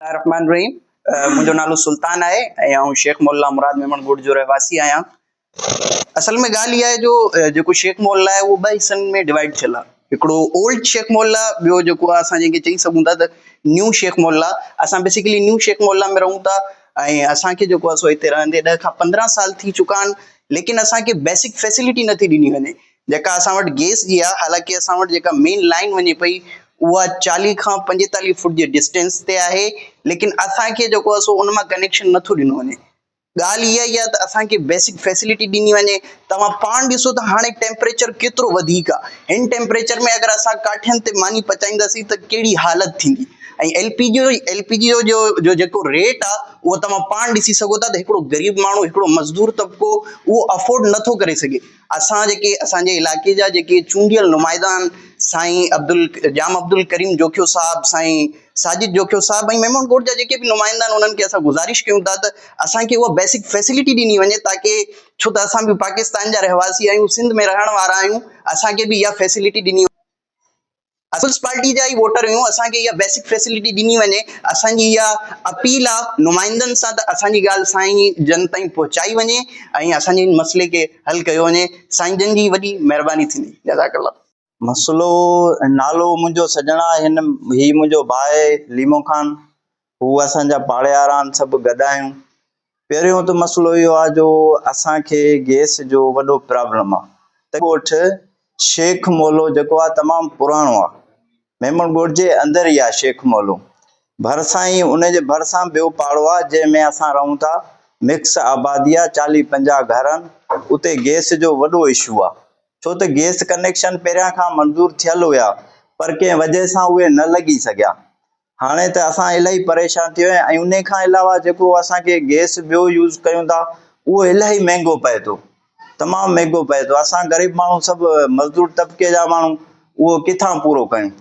الله الرحمٰن الرحيم منهنجو نالو سلطان آهي ۽ آئون شيخ مول الله مراد ميمڻ ڳوٺ جو رهواسي آهيان اصل ۾ ڳالهه اها آهي جو جيڪو شيخ مول الله آهي اهو ٻه حصن ۾ ڊوائيڊ ٿيل آهي هڪڙو اولڊ شيخ مول الله ٻيو جيڪو آهي اسان جنهن کي چئي سگهون ٿا ته نيو شيخ مول الله اسان بيسيڪلي نيو شيخ مول الله ۾ رهون ٿا ۽ اسان کي جيڪو آهي سو هتي رهندي ڏهه کان پندرهن سال ٿي چڪا آهن ليڪن اسان کي بيسڪ فيسلٽي نٿي ڏني وڃي جيڪا اسان وٽ گيس جي آ حالانڪه اسان وٽ جيڪا مين لائين وڃي پئي اها چاليهه کان پنجيتاليهه فوٽ جي ڊسٽينس تي آهي ليڪن اسان کي جيڪو آ سو ان مان ڪنيڪشن نٿو ڏنو وڃي ڳالهه اها ئي آ ته اسان کي بيسڪ فيسلٽي ڏني وڃي توهان پاڻ ڏسو ته هاڻي ٽيمپريچر ڪيترو وڌيڪ آ هن ٽيمپريچر ۾ اگر اسان ڪاٺين تي ماني پچائينداسين ته ڪهڙي حالت ٿيندي ۽ L P G L P G جو جو جيڪو ريٽ آ اهو توهان پاڻ ڏسي سگهو ٿا ته هڪڙو غريب ماڻهو هڪڙو مزدور طبقو اهو افورڊ نٿو ڪري سگهي اسان جيڪي اسان جي علائقي جا جيڪي چونڊيل نمائندا آهن سائين عبدل ڄام عبدالڪريم جوکيو صاحب سائين ساجد جوکيو صاحب ۽ ميمڻ ڳوٺ جا جيڪي به نمائندا آهن انهن کي اسان گذارش ڪيون ٿا ته اسان کي اها بيسڪ فيسلٽي ڏني وڃي تاڪي ڇو ته اسان به پاڪستان جا رهواسي آهيون سنڌ ۾ رهڻ وارا آهيون اسان کي به اها فيسلٽي ڏني پيپلز پارٽي جا ئي ووٽر آهيون اسان کي اها بيسڪ فيسلٽي ڏني وڃي اسان جي اها اپيل آهي نمائندن سان ته اسان جي ڳالهه سائين جن تائين پهچائي وڃي ۽ اسان جي هن مسئلي کي حل ڪيو وڃي سائين جن جي وڏي مهرباني ٿيندي جزاڪ الله. مسئلو نالو منهنجو سڄڻا هن هي منهنجو ڀاء ليمو خان هو اسان جا پاڙياران سڀ گڏ آهيون پهريون ته مسئلو اهو آهي جو اسان کي گيس جو وڏو پرابلم آهي ته ڳوٺ شيخ مولو جيڪو آهي تمام پراڻو آهي ميمڻ ڳوٺ جي اندر ئي آهي شيخ مولو ڀرسان ئي ان جي ڀرسان ٻيو پاڙو آهي جنهن ۾ اسان رهون ٿا مڪس آبادي آهي چاليهه پنجاهه گهر آهن اتي گيس جو وڏو اشو آهي ڇو ته گيس ڪنيڪشن پهريان کان منظور ٿيل هيا پر ڪنهن وجه سان اهي نه لڳي سگهيا هاڻي ته اسان الاهي پريشان ٿي ويا آهيون ۽ انهي کان علاوه جيڪو اسان کي گئس ٻيو يوز ڪيون ٿا اهو الاهي مهنگو پئي ٿو تمام مهنگو پئي ٿو اسان غريب ماڻهو سڀ مزدور طبقي جا ماڻهو اهو ڪٿان پورو ڪيون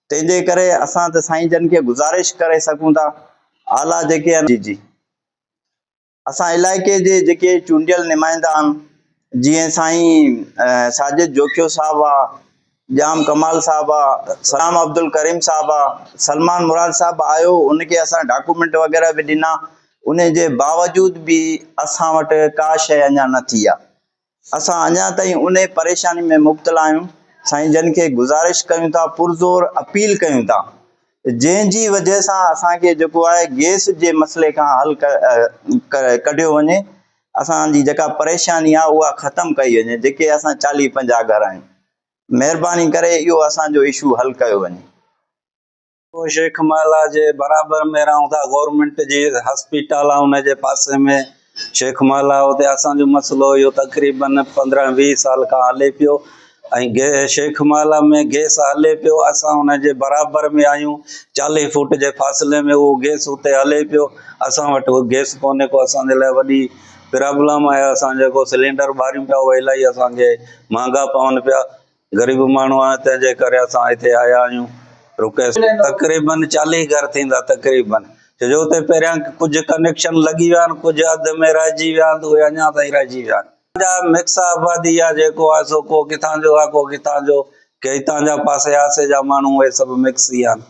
تنهن جي ڪري اسان ته سائين جن کي گذارش ڪري سگهون ٿا اعليٰ جيڪي آهن جي جي اسان علائقي جي جيڪي چونڊيل نمائندا آھن جيئن سائين ساجد جوکيو صاحب آ ڄام ڪمال صاحب آ سلام عبدالڪريم صاحب آ سلمان مراد صاحب آيو ان کي اسان ڊاڪومينٽ وغيره به ڏنا ان جي باوجود به اسان وٽ ڪا شيء اڃا نه ٿي آ اسان اڃا تائين انهي پريشاني ۾ مبتلا آهيون سائين جن کي گذارش ڪيون ٿا پرزور اپيل ڪيون ٿا جنهن جي وجهه سان اسان کي جيڪو آهي گيس جي مسئلي کان حل ڪڍيو وڃي اسان جي جيڪا پريشاني آهي اها ختم ڪئي وڃي جيڪي اسان چاليهه پنجاهه گهر آهيون مهرباني ڪري اهو اسان جو اشو حل ڪيو وڃي. شيخ محلا جي برابر ۾ رهون ٿا گورنمينٽ جي هاسپيٽل آ ان جي پاسي ۾ شيخ محلا اتي اسان جو مسئلو اهو تقريبن پندرهن ويهه سال کان هلي پيو ۽ گي شيخ محلا ۾ گيس هلي پيو اسان ان جي برابر ۾ آهيون چاليهه فوٽ جي فاصلي ۾ اهو گيس اتي هلي پيو اسان وٽ اهو گيس ڪونهي ڪو اسان جي لاء وڏي پرابلم آهي اسان جيڪو سلينڊر ٻاريون پيا اهي الاهي اسانکي مهانگا پون پيا غريب ماڻهو آهيون تنهن جي ڪري اسان هتي آيا آهيون رڪي تقريبن چاليهه گهر ٿيندا تقريبن ڇو جو اتي پهريان ڪجهه ڪنيڪشن لڳي ويا آهن ڪجهه اڌ ۾ رهجي ويا آهن اهي اڃا تائين رهجي ويا آهن جا مڪس آبادي آهي جيڪو آهي سو ڪو ڪٿان جو آهي ڪو ڪٿان جو ڪي هتان جا پاسي آسي جا ماڻهو اهي سڀ مڪس ئي آهن